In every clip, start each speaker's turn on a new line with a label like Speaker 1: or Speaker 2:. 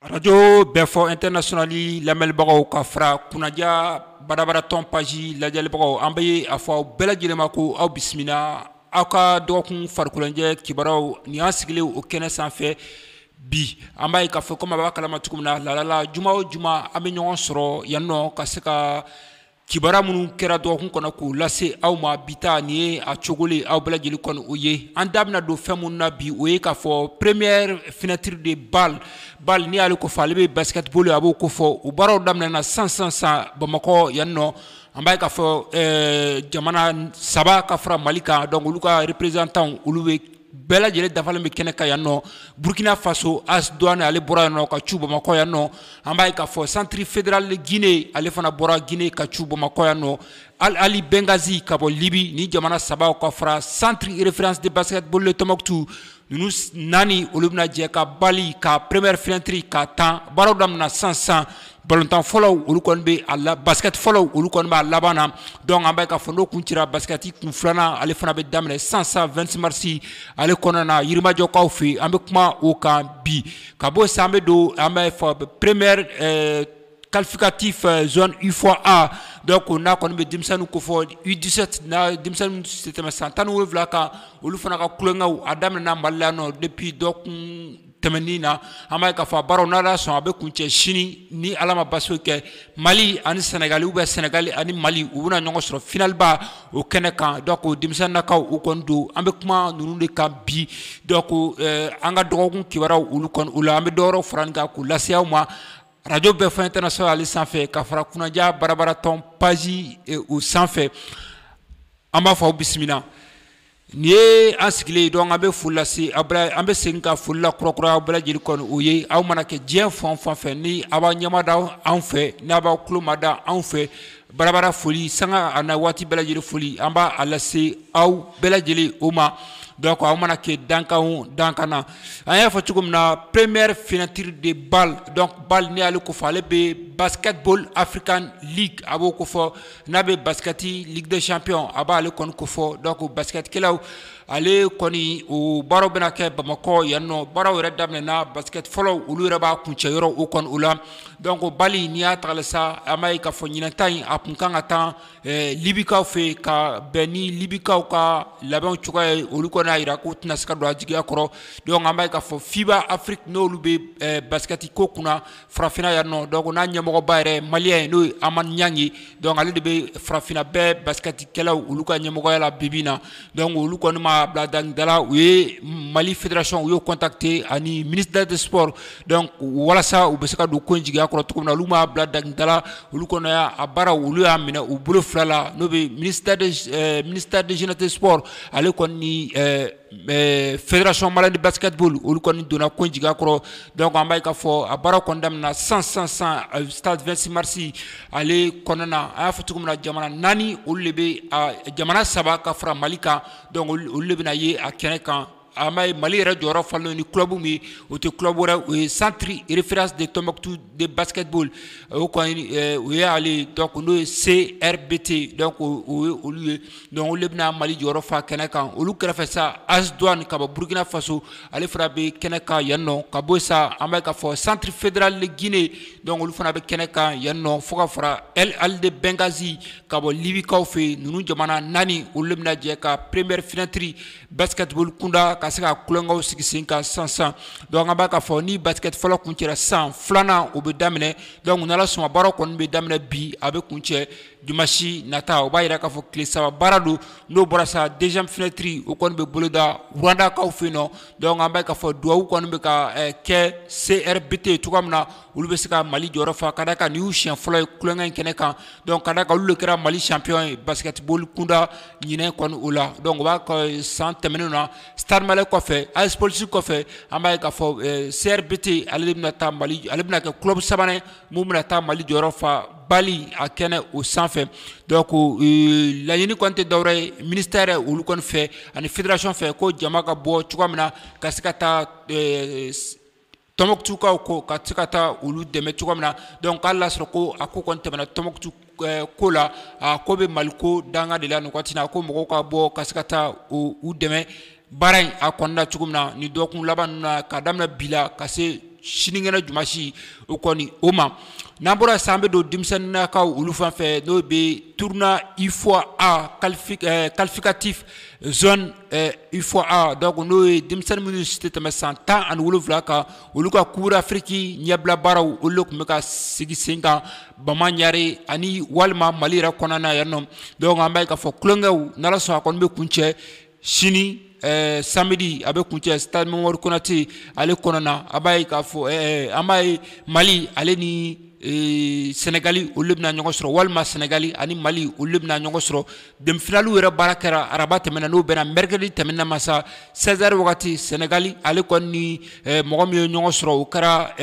Speaker 1: Arajo bɛɛfɔ international lamɛnlibagaw ka fara kunnaja barabara tɔn page lajɛlibagaw an bɛ ye a fɔ aw bɛɛ lajɛlen ma ko aw bisimila aw ka dɔgɔkun farikoloɲɛnajɛ kibaruyaw ni an sigilen o kɛnɛ sanfɛ bi an b'a ye k'a fɔ komi aw b'a kalama cogo min na lala juma o juma an bɛ ɲɔgɔn sɔrɔ yan nɔ ka se ka Kibaruya minnu kɛra dɔgɔkun kɔnɔ k'u lase aw ma bi ta nin ye a cogolen aw bɛɛ lajɛlen kɔni o ye an da bɛna don fɛn minnu na bi o ye k'a fɔ première fenêtre de bal bal n'i y'ale ko fɔ ale bɛ basketball a b'o ko fɔ o baaraw daminɛna sisan sisan sisan Bamakɔ yan nɔ an b'a ye k'a fɔ ɛɛ jamana saba ka fara Mali kan donc olu ka représentantw olu bɛ bɛɛ lajɛlen dafalen bɛ kɛnɛ kan yan nɔ burkina faso AS douane ale bɔra yan nɔ ka cu bamakɔ yan nɔ an b'a ye k'a fɔ centre fédéral guinée ale fana bɔra guinée ka cu bamakɔ yan nɔ al ahli benghazi ka bɔ libi ni jamana sabaw ka fara centre référence de basketball de tombouctou ninnu naani olu bɛna jɛ ka bali ka première fenêtre ka tan baaraw daminɛna sisan sisan Balontan fɔlɔ olu kɔni bɛ a la basket fɔlɔ olu kɔni b'a laban na donc an b'a ye k'a fɔ n'o kun cira basketi kun filanan ale fana bɛ daminɛ sisan sisan 26 marisi ale kɔnɔna na yirimajɔkaw fɛ yen an bɛ kuma o kan bi ka bɔ sisan an bɛ don an b'a fɔ première qualificatif zone UFOA donc n'a kɔni bɛ denmisɛnnin ko fɔ U17 denmisɛnnin si tɛ tɛmɛ san tan ni wolonwula kan olu fana ka kukɛ a daminɛna mali la nɔ depuis dɔgɔkun tɛmɛnin na an b'a ye k'a fɔ a baaraw n'ala sɔn a bɛ kuncɛ sini ni ala ma basi kɛ mali ani sɛnɛgali bɛ sɛnɛgali ani mali u bɛna ɲɔgɔn sɔrɔ finaliba o kɛnɛ kan donc denmisɛnninnakaw u kɔni don an bɛ kuma ninnu de kan bi donc eh, an ka dɔgɔkun kibaruyaw olu kɔni o la an bɛ dɔwɛrɛw fara nin kan k'u lase aw ma arajo bɛɛfɔ international ale sanfɛ ka fara kunnaja barabaratɔn page eh, o sanfɛ an b'a fɔ aw bisimila Nin ye an sigilen donc an bɛ foli lase a an bɛ segin ka foli lakurakuraya aw bɛɛ lajɛlen kɔni o ye aw mana kɛ diɲɛ fan o fan fɛ ni aw b'aw ɲɛmada anw fɛ n' aw b'aw tulomada anw fɛ barabara foli sanga ani waati bɛɛ lajɛlen foli an b'a lase aw bɛɛ lajɛlen o ma donc aw mana kɛ dankan o dankan na an y'a fɔ cogo min na première fenêtre de bali donc bali n'i y'ale ko fɔ ale bɛ basketball african league a b'o ko fɔ n'a bɛ baskɛti ligue des champions a b'ale kɔni ko fɔ donc baskɛtikɛlaw ale kɔni o baaraw bɛna kɛ bamakɔ yan nɔ baaraw yɛrɛ daminɛna baskɛti fɔlɔ olu yɛrɛ b'a kuncɛ yɔrɔ o kɔni o la donc bali n'i y'a tala sa an b'a ye k'a fɔ ɲinan ta in a tun kan ka tan libikaw fɛ yen ka bɛn ni libikaw ka labɛn cogoya ye olu kɔni y'a jira k'u tɛna se ka don a jigiya kɔrɔ donc an b'a ye k'a fɔ FIBA Afrique n'olu bɛ baskɛtiko kunna farafinna yan nɔ donc n'a ɲɛmɔgɔba yɛrɛ maliyɛn ye n'o ye amani ɲangi donc ale de bɛ farafinna bɛɛ basikɛtikɛlaw olu ka ɲɛmɔgɔya la bibi na donc olu kɔni ma bila dangidala u ye mali fédération u y'o contacter ani ministère de sport donc walasa u bɛ se ka don ko in jigiya kɔrɔ cogo min na olu m'a bila dangidala olu kɔni y'a baara olu y'a minɛ u bolo fila la n'o bɛ ministère de euh, ministère de jeunesse et sport ale kɔni ni euh, Ɛɛ fɛracɔn mara ni basitiuru olu kɔni donna ko jigin kɔrɔ dɔw ko an b'a ka fɔ a baara kɔnda na san san san a taa2simarisi ale kɔnɔna na a y'a fɔ cogo min na jamana naani olu de bɛ jamana saba ka fara mali kan olu de bɛna ye a kɛnɛ kan a mali yɛrɛ jɔyɔrɔyɔrɔ fa ni kubu min o tɛ ku wɛrɛ u ye santurri irifiri de tɔnmɔtu de basitiuru o u y'aale dɔw n'o ye se bite dɔw ko olu ye Donc olu de bɛna Mali jɔyɔrɔ fa kɛnɛ kan olu kɛrɛfɛ sa AS Douane ka bɔ Burkina Faso ale fana bɛ kɛnɛ kan yan nɔ ka bɔ yen sa an b'a ye k'a fɔ centre fédéral de Guinée donc olu fana bɛ kɛnɛ kan yan nɔ fo ka fara Al Ahli de Benghazi ka bɔ Libye kaw fɛ yen ninnu jamana naani olu de bɛna jɛ ka première fenêtre basketball kunda ka se ka tulonkɛw sigi sen kan sisan sisan donc an b'a ye k'a fɔ ni basket fɔlɔ kuncɛra sisan filanan o bɛ daminɛ donc n'Ala sɔnna baaraw kɔni bɛ daminɛ bi a bɛ kuncɛ Dimanche nata o b'a jira k'a fɔ tile saba baara don n'o bɔra sa deuxième fenêtre o kɔni bɛ boloda Rwandakaw fɛ yen nɔ donc an b'a ye k'a fɔ dugawu kɔni bɛ ka kɛ CRBT cogoya min na olu bɛ se ka Mali jɔyɔrɔ fa ka d'a kan nin y'u siɲɛ fɔlɔ ye tulonkɛ in kɛnɛ kan donc ka d'a kan olu de kɛra Mali champion ye basketball kunda ɲinɛ kɔni o la donc o b'a kɛ san tɛmɛnenw na Stade Malien kɔfɛ AS Police kɔfɛ an b'a ye k'a fɔ CRBT ale de bɛna taa Mali ale bɛna kɛ club sabanan ye min bɛna taa mali jɔyɔrɔ fa BAL a kɛnɛ o sanfɛ donc euh, laɲini kɔni tɛ dɔwɛrɛ ye ministère olu kɔni fɛ ani fédération fɛ ko jama ka bɔ cogoya min na ka se ka taa euh, tɔmɔkutukaw ko ka se ka taa olu dɛmɛ cogoya min na donc hali n'a sɔrɔ ko a ko kɔni tɛmɛna tɔmɔkutu eh, ko la a ko bɛ mali ko danga de la nin wagati na ko mɔgɔw ka bɔ ka se ka taa u dɛmɛ baara in a kɔnɔna cogo min na ni dɔgɔkun laban ninnu na k'a daminɛ bi la ka se sinikɛnɛ jumasi o kɔni o ma n'an bɔra sisan an bɛ don denmisɛnninnakaw olu fan fɛ n'o bɛ tournoi UFOA A qualificatif eh, zone eh, UFOA A donc n'o ye denmisɛnnin minnu si tɛ tɛmɛ san tan ani wolonwula kan olu ka coupe d'Afrique ɲɛbila baaraw olu de tun bɛ ka sigi sen kan bamaɲare ani walima mali yɛrɛ kɔnɔna na yan nɔ donc an b'a ye k'a fɔ tulonkɛw n'ala sɔnna a kɔni bɛ kuncɛ sini eh, samedi a bɛ kuncɛ stade mamadu konate ale kɔnɔna na a b'a ye k'a fɔ eh, eh, an b'a ye mali ale ni sɛnɛgali olu bɛna ɲɔgɔn sɔrɔ walima sɛnɛgali ani mali olu bɛna ɲɔgɔn sɔrɔ demi-finale yɛrɛ baara kɛra araba tɛmɛna n'o bɛnna mercredi tɛmɛna ma sa seize heures wagati sɛnɛgali ale kɔni ni mɔgɔ min ye ɲɔgɔn sɔrɔ o kɛra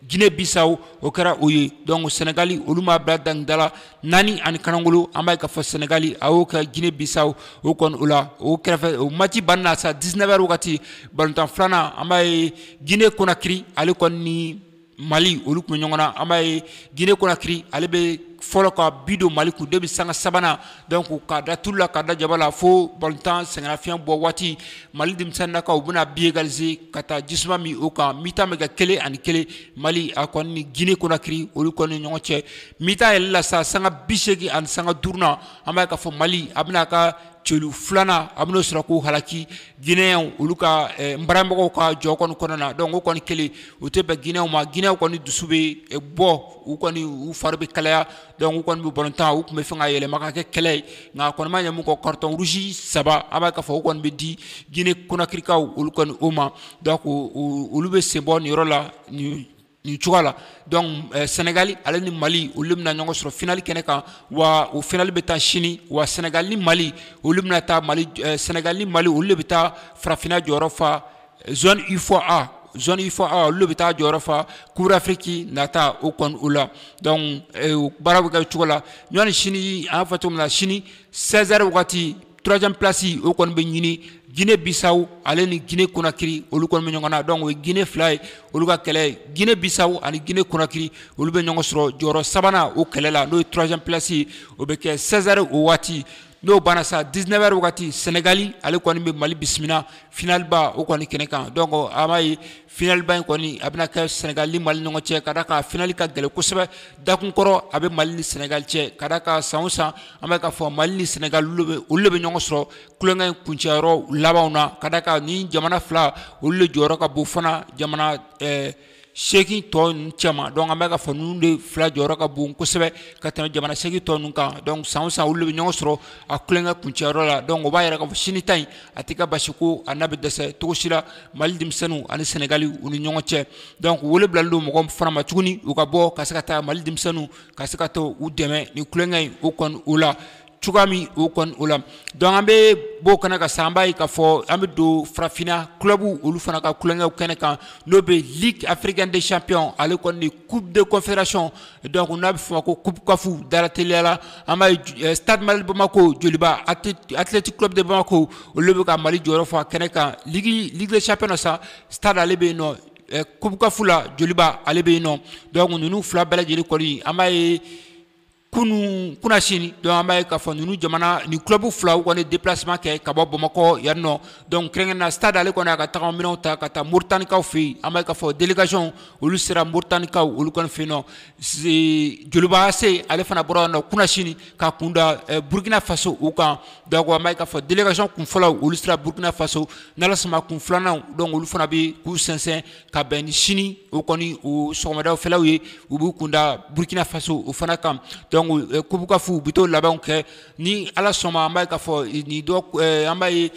Speaker 1: jinɛ bisaw o kɛra o ye donc sɛnɛgali olu m'a bila dangidala naani ani kanangolo an b'a ye k'a fɔ sɛnɛgali a y'o kɛ jinɛ bisaw o kɔni o la o kɛrɛfɛ o match banni na sa 19 heures wagati balontan filanan an b'a ye jinɛ konakiri ale kɔni ni mali olu tun bɛ ɲɔgɔn na an b'a ye jinɛ konakiri ale bɛ fɔlɔ ka bi don mali kun depuis sanga sabanan donc k'a da tulu la k'a da jaba la fo balontan sɛgɛnnafiɲɛ bɔ waati mali denmisɛnninnakaw u bɛna bi égaliser ka taa jisuma min o kan mi-temps bɛ kɛ kelen ani kelen mali a kɔni ni guinée conakry olu kɔni ni ɲɔgɔn cɛ mi-temps yɛlɛla sa sanga bi seegin ani sanga duurunan an b'a ye k'a fɔ mali a bɛna a ka celu filanan a bɛn'o sɔrɔ k'o halaki guinéens olu ka eh, nbaramɔgɔw ka jɔ kɔni kɔnɔna donc o kɔni kɛlen o tɛ bɛn guinéens ma guinéens kɔni dusu bɛ eh, bɔ u kɔni u fari bɛ kalaya donc u kɔni bɛ balontan u tun b'a fɛ k'a yɛlɛma ka kɛ kɛlɛ ye nka a kɔni ma ɲɛ min kɔ carton rouge saba an b'a ye k'a fɔ o kɔni bɛ di Guinée Conakrykaw olu kɔni o ma donc olu bɛ sen bɔ nin yɔrɔ la nin cogoya la donc eh, Sénégal ale ni Mali olu bɛna ɲɔgɔn sɔrɔ finali kɛnɛ kan wa o finali bɛ tan sini wa Sénégal ni Mali olu bɛna taa Mali eh, Sénégal ni Mali olu de bɛ taa farafinna jɔyɔrɔ fa zone ufoa zone ufoa olu de bɛ taa jɔyɔrɔ fa coupe d'afrique nata o kɔni o la donc eh, baara bɛ kɛ cogo la ani sini an y'a fɔ cogo min na sini 16 heures wagati troisième place o kɔni bɛ ɲini guinée bissau ale ni guinée conakry olu kɔni bɛ ɲɔgɔn na donc o ye guinée fila ye olu ka kɛlɛ ye guinée bissau ani guinée conakry olu bɛ ɲɔgɔn sɔrɔ jɔyɔrɔ sabanan o kɛlɛ la n'o ye troisième place ye o bɛ kɛ 16 heures o waati n'o banna sa 19 heures wagati Senegali ale kɔni bɛ Mali bisimila finalba o kɔni kɛnɛ kan donc an b'a ye finalba in kɔni a bɛna kɛ Senegali ni Mali ɲɔgɔn cɛ ka d'a kan finali ka gɛlɛn kosɛbɛ dakun kɔrɔ a bɛ Mali ni Senegali cɛ ka d'a kan san o san an bɛ k'a fɔ Mali ni Senegali olu bɛ olu de bɛ ɲɔgɔn sɔrɔ tulonkɛ in kuncɛyɔrɔ labanw na ka d'a kan nin jamana fila olu de jɔyɔrɔ ka bon fana jamana ɛɛ seegin tɔ ninnu cɛma donc an bɛ k'a fɔ ninnu de fila jɔyɔrɔ ka bon kosɛbɛ ka tɛmɛ jamana seegin tɔ ninnu kan donc san o san olu de bɛ ɲɔgɔn sɔrɔ a tulonkɛ kuncɛyɔrɔ la donc o b'a yira k'a fɔ sini ta in a tɛ ka basi ko a n'a bɛ dɛsɛ cogo si la mali denmisɛnninw ani sɛnɛgali u ni ɲɔgɔn cɛ donc wele bilalen don mɔgɔ fana ma tuguni u ka bɔ ka se ka taa mali denmisɛnninw ka se ka taa u dɛmɛ nin tulonkɛ in o kɔni o la cogoya min o kɔni o la donc an bɛ b'o kɛnɛ kan sisan an b'a ye k'a fɔ an bɛ don farafinna clubw olu fana ka tulonkɛw kɛnɛ kan n'o bɛ ligue africaine des champions ale kɔni ni coupe de confédération donc n'a bɛ f'o ma ko coupe caf dalateliya la an b'a ye stade malien de bamako joliba athletic club de bamako olu bɛ ka mali jɔyɔrɔ fa kɛnɛ kan ligue ligue des champions na sa stade ale bɛ yen nɔ coupe caf la joliba ale bɛ yen nɔ donc ninnu fila bɛɛ lajɛlen kɔni an b'a ye kunun kunasini donc an b'a ye k'a fɔ ninnu jamana ni club fila u kɔni déplacement kɛ ka bɔ bamakɔ yan nɔ donc kɛrɛnkɛrɛnnenya stade ale kɔni a ka tagama minɛnw ta ka taa moritanikaw fɛ yen an b'a ye k'a fɔ délégation olu sera moritanikaw olu kɔni fɛ yen nɔ joliba ac ale fana bɔra yan nɔ kunasini ka kun da eh, burkina faso u kan donc an b'a ye k'a fɔ délégation kun fɔlɔw olu sera burkina faso n'ala sɔnna kun filananw donc olu fana bɛ k'u sɛnsɛn ka bɛn ni sini o kɔni o sɔgɔmadaw fɛlaw ye u b'u kun da burkina faso o fana kan donc eh, coupe caf u bɛ t'o labɛnw kɛ ni ala sɔnma an b'a ye k'a fɔ eh, nin dɔ eh, an b'a ye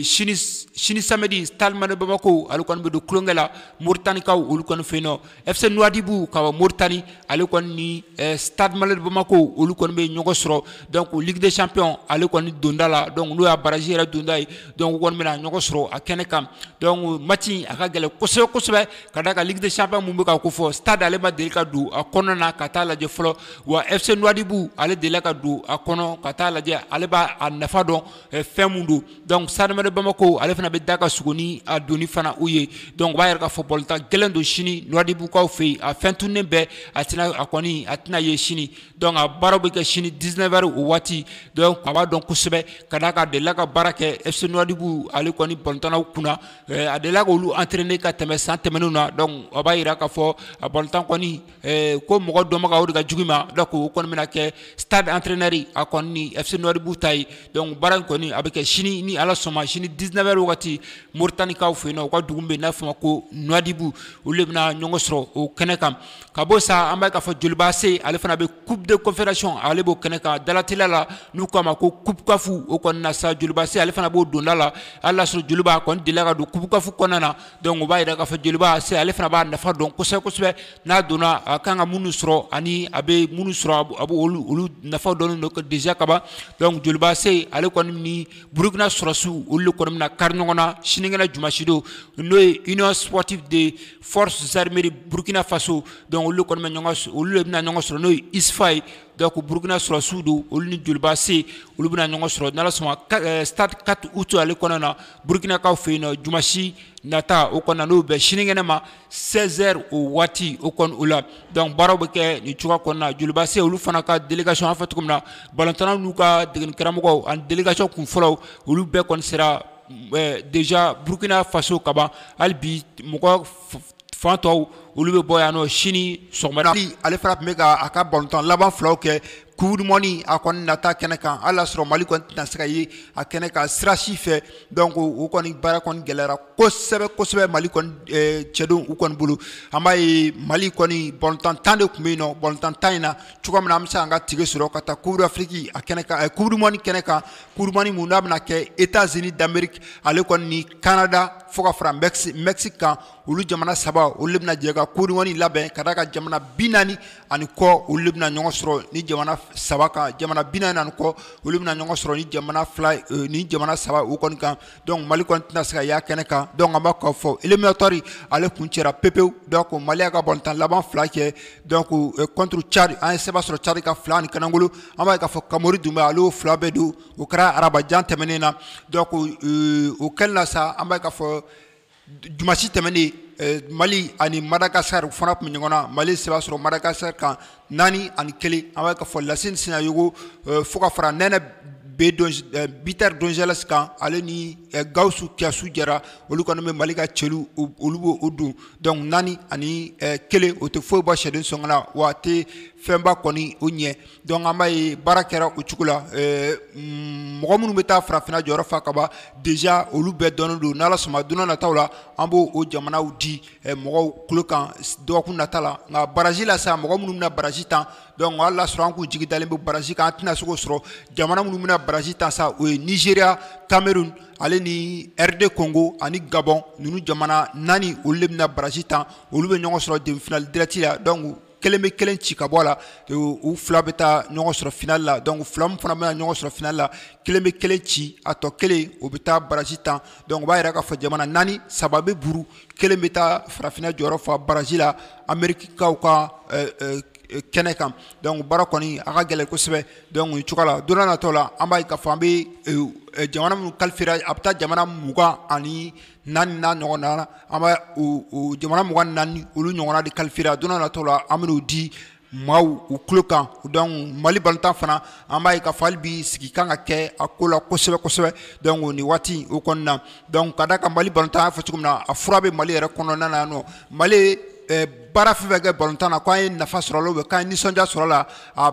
Speaker 1: sini sini samedi stade malien bamako ale kɔni bɛ don tulonkɛ la moritanikaw olu kɔni fɛ yen nɔ fc nouadhibou ka bɔ moritani ale kɔni ni eh, stade malien de bamako olu kɔni bɛ ɲɔgɔn sɔrɔ donc ligue des champions ale kɔni donda la donc n'o y'a barrage yɛrɛ donda ye donc u kɔni bɛna ɲɔgɔn sɔrɔ a kɛnɛ kan donc match a ka gɛlɛn kosɛbɛ kosɛbɛ ka d'a kan ligue des champions min bɛ ka kofɔ stade ale ma deli ka don a kɔnɔ na ka taa lajɛ fɔlɔ wa fc nouadhibou ale delila ka don a kɔnɔ ka taa lajɛ ale b'a a nafa dɔn eh, fɛn mun don donc stade malien de bamako ale fana bɛ da ka suguni a doni fana u ye donc o b'a yira k'a fɔ bɔlɔntan gɛlɛn don sini nouadhiboukaw fɛ yen a fɛn tunnen bɛɛ a tɛna a kɔni a tɛna ye sini donc a baaraw bɛ kɛ sini 19 heures o waati donc a b'a dɔn kosɛbɛ ka d'a kan a delila ka baara kɛ fc nouadhibou ale kɔni bɔlɔntannaw kunna a delila k'olu entraîner ka tɛmɛ san tɛmɛnenw na donc o b'a yira k'a fɔ a bɔlɔntan kɔni Eh, ko mɔgɔ dɔnbaga o de ka jugu i ma donc o kɔni bɛna kɛ stade entraîneur a kɔni ni FC Nouadhibou ta ye donc baara in kɔni a bɛ kɛ sini ni Ala sɔnna sini 19 heures wagati Moritanikaw fɛ yen nɔ u ka dugu min bɛ yen n'a fɔ ma ko Nouadhibou olu de bɛna ɲɔgɔn sɔrɔ o kɛnɛ kan ka bɔ sa an b'a k'a fɔ Joliba AC ale fana bɛ coupe de confédération ale b'o kɛnɛ kan dalateliya la n'u k'a ma ko coupe CAF o kɔni na sa Joliba AC ale fana b'o donda la hali n'a sɔrɔ Joliba a kɔni delila ka don coupe CAF kɔnɔna na donc o b'a yira k'a fɔ joliba ac ale fana b'a nafa dɔn kosɛbɛ kosɛbɛ n'a donna a kan ka minnu sɔrɔ ani a bɛ minnu sɔrɔ a bɛ olu olu nafa dɔnnen don déjà kaban donc joliba ac ale kɔni ni burukina sɔrɔsiw olu de kɔni bɛna kari ɲɔgɔn na sinikɛnɛ jumasi don n'o ye union sportive des forces armées de burkina faso donc olu de kɔni bɛ ɲɔgɔn olu de bɛna ɲɔgɔn sɔrɔ n'o ye usfa ye donc burukina sɔrɔsiw don olu ni joliba ac olu bɛna ɲɔgɔn sɔrɔ n'ala sɔnna eh, stade 4 août ale kɔnɔna na burukinakaw fɛ yen nɔ jumasi nata o kɔnɔna n'o bɛ sinikɛnɛ ma 16 heures o waati o kɔni o la donc baaraw bɛ kɛ nin cogoya kɔnɔna joliba ac olu fana ka délégation an fɛ cogo min na balontannaw n'u ka degeni karamɔgɔw ani délégation kun fɔlɔw olu bɛɛ kɔni sera eh, déjà burkina faso kaban hali bi mɔgɔ fan tɔw olu bɛ bɔ yan nɔ sini sɔgɔmada fɛ, ale fana tun bɛ ka a ka balontan laban filaw kɛ Coupe du monde a kɔni nata kɛnɛ kan hali n'a y'a sɔrɔ Mali kɔni tɛna se ka ye a kɛnɛ kan sira si fɛ donc o kɔni baara kɔni gɛlɛyara kosɛbɛ kosɛbɛ Mali kɔni eh, cɛdenw u kɔni bolo an b'a ye Mali kɔni balontan tan de tun bɛ yen nɔ balontan tan in na cogoya min na an bɛ se k'an ka tike sɔrɔ ka taa Coupe d'Afrique a kɛnɛ kan eh, Coupe du monde kɛnɛ kan Coupe du monde mun n'a bɛna kɛ États-Unis d'Amérique ale kɔni ni Canada fo ka fara Mexique kan olu jamana saba olu de bɛna jɛ ka Coupe du monde labɛn ka d'a kan jamana bi naani ani kɔ olu de bɛna ɲɔgɔn sɔrɔ ni jamana saba kan jamana bi naani ani kɔ olu bɛna ɲɔgɔn sɔrɔ ni jamana fila ni jamana saba o kɔni kan donc Mali kɔni tɛna se ka y'a kɛnɛ kan donc an b'a k'a fɔ éliminatoire ale kuncɛra pepewu donc Mali y'a ka balontan laban fila cɛ donc contre Tchad an ye seba sɔrɔ Tchad kan fila ani kanakolo an b'a ye k'a fɔ Kamori Dunbuya ale y'o fila bɛɛ don o kɛra arabajan tɛmɛnen na donc o kɛlen na sa an b'a ye k'a fɔ Dimansi tɛmɛnen Mali ani Madagascar fana tun bɛ ɲɔgɔn na Mali seba sɔrɔ Madagascar kan naani ani kelen an b'a ye k'a fɔ Lasine Sinayogo fo ka fara Nɛnɛ buteur Dorgeles kan ale ni Gawusu Kiyasu Jara olu kɔni bɛ Mali ka celu olu b'o don donc naani ani kelen o tɛ foyi bɔ sɛden sɔngɔ la wa a tɛ fɛnba kɔni o ɲɛ Donc an b'a ye baara kɛra o cogo la mɔgɔ minnu bɛ taa farafinna jɔyɔrɔ fa ka ban déjà olu bɛɛ dɔnnen don n'Ala sɔnna don n'a nataw la an b'o jamanaw di mɔgɔw tulo kan dɔgɔkun nata la nka baraji la sa mɔgɔ minnu bɛna baraji tan donc hali n'a sɔrɔ an k'u jigi dalen bɛ baraji kan an tɛna se k'o sɔrɔ jamana minnu bɛna baraji tan sa o ye Nigeria Cameroun ale ni RD Congo ani Gabon ninnu jamana naani olu de bɛna baraji tan olu bɛ ɲɔgɔn sɔrɔ demi-finale direct la donc kelen bɛ kelen ci ka bɔ a la u fila bɛ taa ɲɔgɔn sɔrɔ final la donc fila min fana bɛna ɲɔgɔn sɔrɔ final la kelen bɛ kelen ci a tɔ kelen o bɛ taa baraji tan donc o b'a yira k'a fɔ jamana naani saba bɛ burun kelen bɛ taa farafinna jɔyɔrɔ fa baraji la amerikikaw ka euh, euh, kɛnɛ kan donc baara kɔni a ka gɛlɛn kosɛbɛ donc nin cogoya la don n'a natɔ la an b'a ye k'a fɔ an bɛ euh, jamana minnu kalifera a bɛ taa jamana mugan ani Naani n'a ɲɔgɔn na an bɛ jamana mugan ni naani olu ɲɔgɔn de kalifera a don n'a natɔ la an bɛna o di maaw u tulo kan donc Mali balontan fana an b'a ye k'a fɔ hali bi sigi kan ka kɛ a ko la kosɛbɛ kosɛbɛ donc nin waati o kɔnɔna na donc ka d'a kan Mali balontan an y'a fɔ cogo min na a fura bɛ mali yɛrɛ kɔnɔna na yan nɔ mali baara fɛn fɛn kɛ balontan na k'an ye nafa sɔrɔ a la k'an ye nisɔndiya sɔrɔ a la a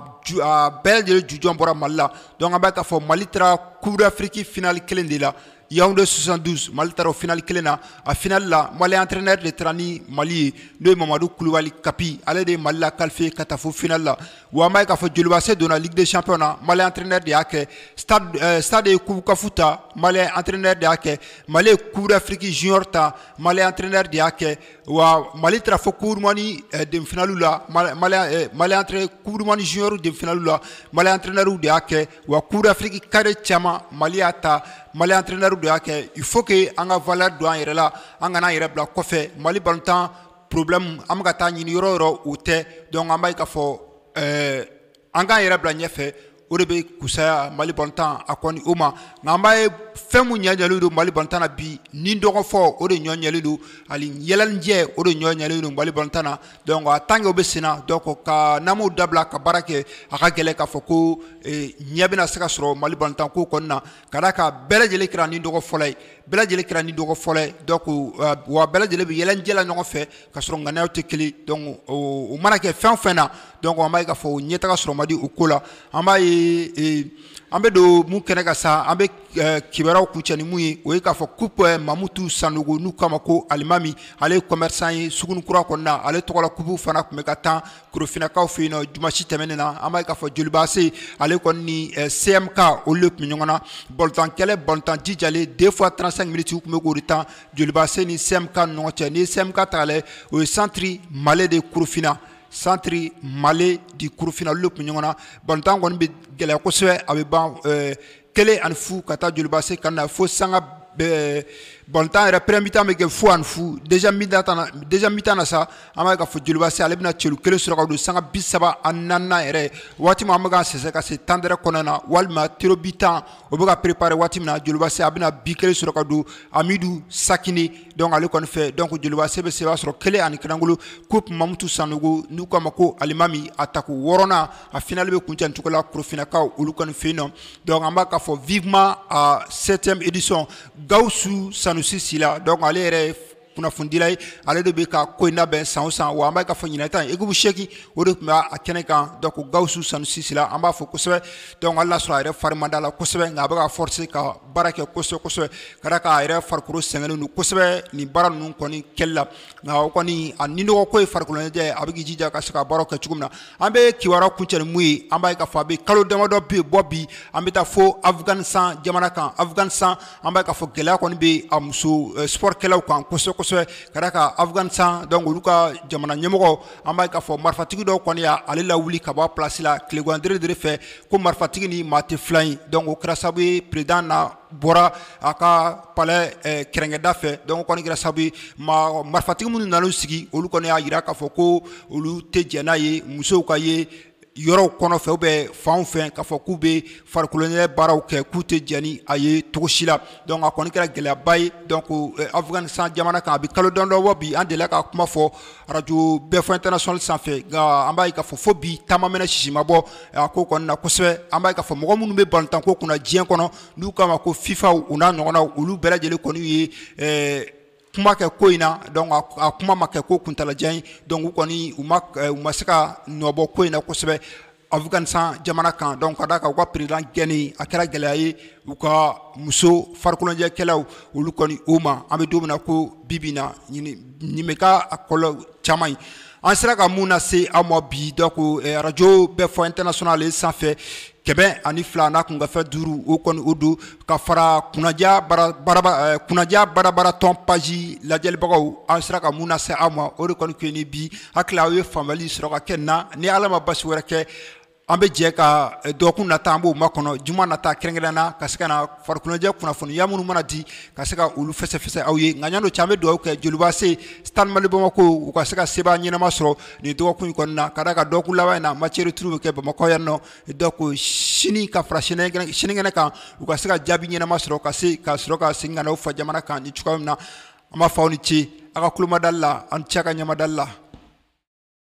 Speaker 1: bɛɛ lajɛlen jujɔn bɔra mali la donc an b'a ye k'a fɔ Mali taara Coupe d'Afrique finali kelen de la Yaawunde 72 Mali taara o final 1 na, a final la Mali entraineur de taara ni Mali ye n'o ye Mamadu Kulibali Kapi ale de ye Mali la qualifier ka taa fo final la, wa an b'a ye k'a fɔ Jolibaase donna Ligue des champions na Mali entraineur de y'a kɛ, stade ɛ stade ye coupe CAF ta Mali entraineur de y'a kɛ, Mali ye coupe d'Afrique junior ta Mali entraineur de y'a kɛ, wa Mali taara fo coupe du monde ɛ demi finale la Mali ɛ Mali entraineur coupe du monde junior demi finale la Mali entraineur de y'a kɛ wa coupe d'Afrique cadet caman mali y'a ta mali antrenɛri de y'a kɛ il faut que an ka valeur don an yɛrɛ la an kana an yɛrɛ bila kɔfɛ mali balontan problème an bɛ ka taa ɲini yɔrɔ o yɔrɔ o tɛ donc an b'a ye k'a fɔ ɛɛ an k'an yɛrɛ bila ɲɛfɛ o de bɛ kusaya mali balontan a kɔni o ma nka an b'a ye fɛn min ɲɛ ɲɛlen don mali balontan na bi ni dɔgɔfɔ o de ɲɔ ɲɛlen don ani yɛlɛnijɛ o de ɲɔ ɲɛlen don mali balontan na donc en tant que o bɛ sen na donc ka n'an m'o dabila ka baara kɛ a ka gɛlɛn k'a fɔ ko eh, ɲɛ bɛna se ka sɔrɔ mali balontanko kɔnɔna ka d'a kan bɛɛ lajɛlen kɛra ni dɔgɔ fɔla ye bɛɛ lajɛlen kɛra ni dɔgɔ fɔla ye donc eh, wa bɛɛ lajɛlen bɛ yɛlɛnijɛ la ɲɔgɔn fɛ ka sɔrɔ ŋaniyaw tɛ kelen donc o o mana kɛ fɛn o fɛn na donc an b'a ye k'a fɔ ɲɛtaga sɔrɔ man di o ko la an b'a ye eh, an bɛ don min kɛnɛ kan sa an bɛ Eh, kibaruyaw kuncɛ ni min ye o ye k'a fɔ coupe eh, mamutu sanogo n'u k'a ma ko alimami ale ye commerçant ye suguninkura kɔnɔna ale tɔgɔla coupe fana tun bɛ ka tan korofinakaw fɛ yen nɔ dimasi tɛmɛnen na an b'a ye k'a fɔ jolibaase ale kɔni ni eh, CMK olu de tun bɛ ɲɔgɔn na balontan kɛlɛ balontan jijalen deux fois trente-cinq minutes tun bɛ k'o de tan jolibaase ni CMK ni ɲɔgɔn cɛ n'i ye CMK ta k'a lajɛ o ye centre mali de korofina centre mali de korofina olu de tun bɛ ɲɔgɔn na balontan kɔni bɛ gɛlɛya kosɛbɛ a bɛ ban kelen ani fu ka taa jolibase kanu na fo sanga eh, balontan yɛrɛ premier mi-temps bɛ kɛ fu ani fu deuxième mi-temps na deuxième mi-temps na sa an b'a ye k'a fɔ jolibase ale bɛna celu kelen sɔrɔ ka don sanga bi saba ani naaninan yɛrɛ waati min an bɛ k'an sɛnsɛn ka se temps d'arrêt kɔnɔna na walima tirs au but tan o bɛ ka prepare waati min na jolibase a bɛna bi kelen sɔrɔ ka don amidu sakini donc ale kɔni fɛ donc jolibase bɛ seba sɔrɔ kelen ani kanankolo coupe mamutu sanogo n'u k'a ma ko alimami a tako wɔɔrɔnan a finali bɛ kuncɛ nin cogo la korofinakaw olu kɔni fɛ yen nɔ donc an b'a k'a fɔ vivement à septième édition Gawusu Sanusi Sila donc ale yɛrɛ ye kunnafonidila ye ale de bɛ ka ko in labɛn san o san wa an b'a k'a fɔ ɲinan ta in ekipu seegin o de tun bɛ a kɛnɛ kan donc Gawusu Sanusi Sila an b'a fo kosɛbɛ donc hali n'a sɔrɔ a yɛrɛ fari man d'a la kosɛbɛ nka a bɛ ka forcer ka baara kɛ kosɛbɛ kosɛbɛ ka d'a kan a yɛrɛ farikolo sɛgɛnnen don kosɛbɛ nin baara ninnu kɔni kɛli la nka o kɔni a ni nɔgɔ ko ye farikoloɲɛnajɛ a bɛ k'i jija ka se ka baaraw kɛ cogo min na an bɛ kibaruya kuncɛ ni min ye an b'a ye k'a fɔ a bɛ kalo damadɔ bɛ bɔ bi an bɛ taa fo Afganistan jamana kan Afganistan an b'a ye k'a fɔ gɛlɛya kɔni bɛ a muso eh, sportkɛlaw kan kosɛbɛ kosɛbɛ ka d'a kan Afganistan donc olu ka jamana ɲɛmɔgɔ an b'a ye k'a fɔ marifatigi dɔw kɔni y'ale lawuli ka bɔ a place la tilegan dere dere fɛ ko marifatigi ni maa tɛ filan ye donc o kɛra sababu ye président na bɔra a ka palais kɛrɛnkɛda fɛ donc o kɔni kɛra sababu ye maa marifatigi minnu nan'u sigi olu kɔni y'a jira k'a fɔ ko olu tɛ jɛn n'a ye musow ka ye yɔrɔw kɔnɔ fɛ ou bien fanw fɛ k'a fɔ k'u bɛ farikoloɲɛnajɛ baaraw kɛ k'u tɛ jɛn ni a ye cogo si la donc a kɔni kɛra gɛlɛyaba ye donc Afganistan jamana kan a bɛ kalo damadɔ bɔ bi an delila ka kuma fɔ arajo bɛɛ fɔ international sanfɛ nka an b'a ye k'a fɔ fo bi ta ma mɛnɛ sisi ma bɔ a ko kɔni na kosɛbɛ an b'a ye k'a fɔ mɔgɔ minnu bɛ balontanko kunna diɲɛ kɔnɔ n'u k'a ma ko FIFA u n'a ɲɔgɔnnaw olu bɛɛ lajɛlen kɔni ye kuma kɛ ko in na donc a kuma ma kɛ ko kuntaalajan ye donc u kɔni u ma se ka nɔbɔ ko in na kosɛbɛ Afganistan jamana kan donc ka d'a kan u ka président gɛnni a kɛra gɛlɛya ye u ka muso farikoloɲɛnajɛkɛlaw olu kɔni u ma an bɛ don min na ko bibi na an ɲɛ bɛ k'a kɔlɔlɔ caman ye an sera ka min lase aw ma bi donc arajo bɛɛ fɔ international sanfɛ kɛmɛ ani fila n'a kunkanfɛn duuru o kɔni o don ka fara kunnaja barabaratɔn page lajɛlibagaw an sera ka min lase aw ma o de kɔni kɛ ni bi hakili aw ye faamuyali sɔrɔ ka kɛ nin na ni ala ma basi wɛrɛ kɛ an bɛ jɛ ka dɔgɔkun nata an b'o makɔnɔ juma nata kɛrɛnkɛrɛnnen na ka se ka na farikoloɲɛnajɛ kunnafoniya minnu mana di ka se ka olu fɛsɛfɛsɛ aw ye nka yanni o cɛ an bɛ dugawu kɛ Joliba AC Stade Malien Bamakɔ ko u ka se ka se ɲɛnama sɔrɔ nin dɔgɔkun in kɔnɔna na ka d'a kan dɔgɔkun laban in na match retour bɛ kɛ Bamakɔ yan nɔ donc sini ka fara sinikɛnɛ kan u ka se ka jaabi ɲɛnama sɔrɔ ka se ka sɔrɔ ka segin ka na u fa jamana kan ni cogoya min na an b'a fɔ aw ni ce a ka tulomadali la aw ni ce a ka ɲamadali la